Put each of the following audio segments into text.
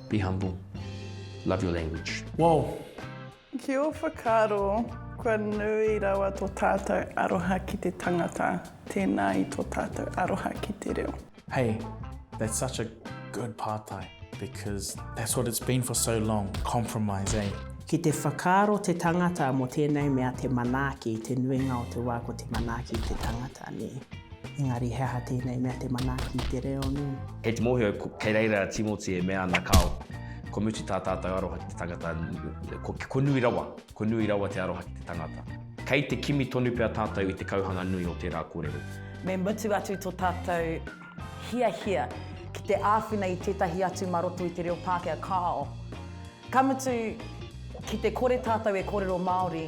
Be humble. Love your language. Wow! Ki ō whakaaro, kua nui rawa tō tātou aroha ki te tangata, tēnā i tō tātou aroha ki te reo. Hey, that's such a good pātai, because that's what it's been for so long, compromise, eh? Ki te whakaaro te tangata mō tēnei mea te manaaki, te nuinga o te wā ko te manaaki te tangata, nē. Engari he aha tēnei mea te manaaki i te reo nui? Kei te mōhio, kei reira a Timoti e mea ana kāo, kua mutu tā tātou aroha ki te tangata, ko, ko nui rawa, ko nui rawa te aroha ki te tangata. Kei te kimi tonu pea tātou i te kauhanga nui o tērā kōrero. Me mutu atu tō tātou hiahia ki te āwhina i tētahi atu mā roto i te reo Pākehā kāo, ka mutu ki te kore tātou e kōrero Māori.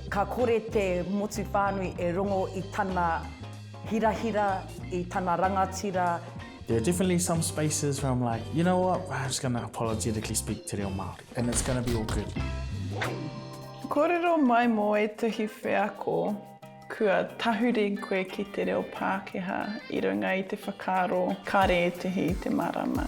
Ka kore te motu whānui e rongo i tana hirahira, i tana rangatira. There are definitely some spaces where I'm like, you know what, I'm just gonna apologetically speak te reo Māori and it's gonna be all good. Kōrero mai mō ētahi wheako kua tahuri koe ki te reo Pākehā i runga i te whakaaro kāre ētahi i te mārama.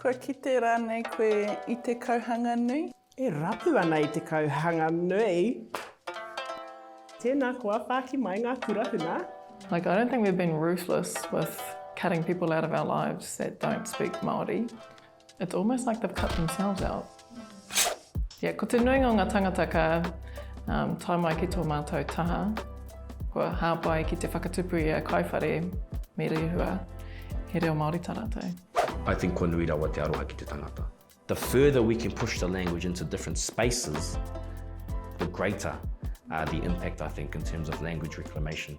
Kua kite rānei koe i te kauhanga nui? E rapu ana i te kauhanga nui. Tēnā koa, whāki mai ngā kura huna. Like I don't think we've been ruthless with cutting people out of our lives that don't speak Māori, it's almost like they've cut themselves out. Yeah, ko te nuinga o ngā tangata ka um, tae mai ki tō mātou taha, kua hāpai ki te whakatupu i a Kaiwhare me Rehua, he reo Māori tā rātou. I think kua nui rawa te aroha ki te tangata. The further we can push the language into different spaces, the greater uh, the impact, I think, in terms of language reclamation.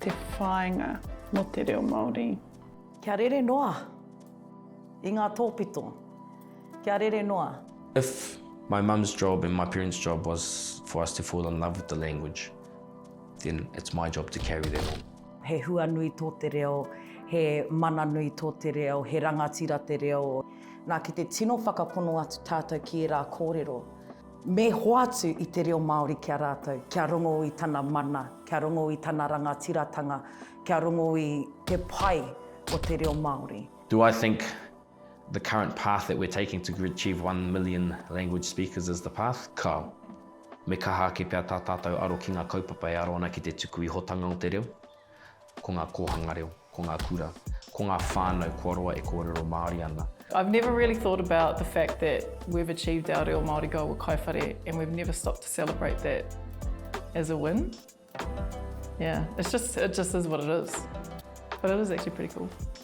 Te whāinga mō te reo Māori. Kia rere noa i ngā tōpito. Kia rere noa. If my mum's job and my parents job was for us to fall in love with the language, then it's my job to carry that on. He hua nui tō te reo, he mana nui tō te reo, he rangatira te reo. Nā, ki te tino whakapono atu tātou ki ērā kōrero. Me hoatu i te reo Māori ki a rātou, kia rongo i tana mana, kia rongo i tana rangatiratanga, kia rongo i te pai o te reo Māori. Do I think the current path that we're taking to achieve one million language speakers is the path? Kao. Me kaha ake pea tā tātou aro ki ngā kaupapa e aro ana ki te tuku ihotanga o te reo. Ko ngā kōhanga reo, ko ngā kura, ko ngā whānau kua roa e kōrero Māori ana. I've never really thought about the fact that we've achieved our reo Māori goal with Kai Whare and we've never stopped to celebrate that as a win. Yeah, it's just, it just is what it is. But it is actually pretty cool.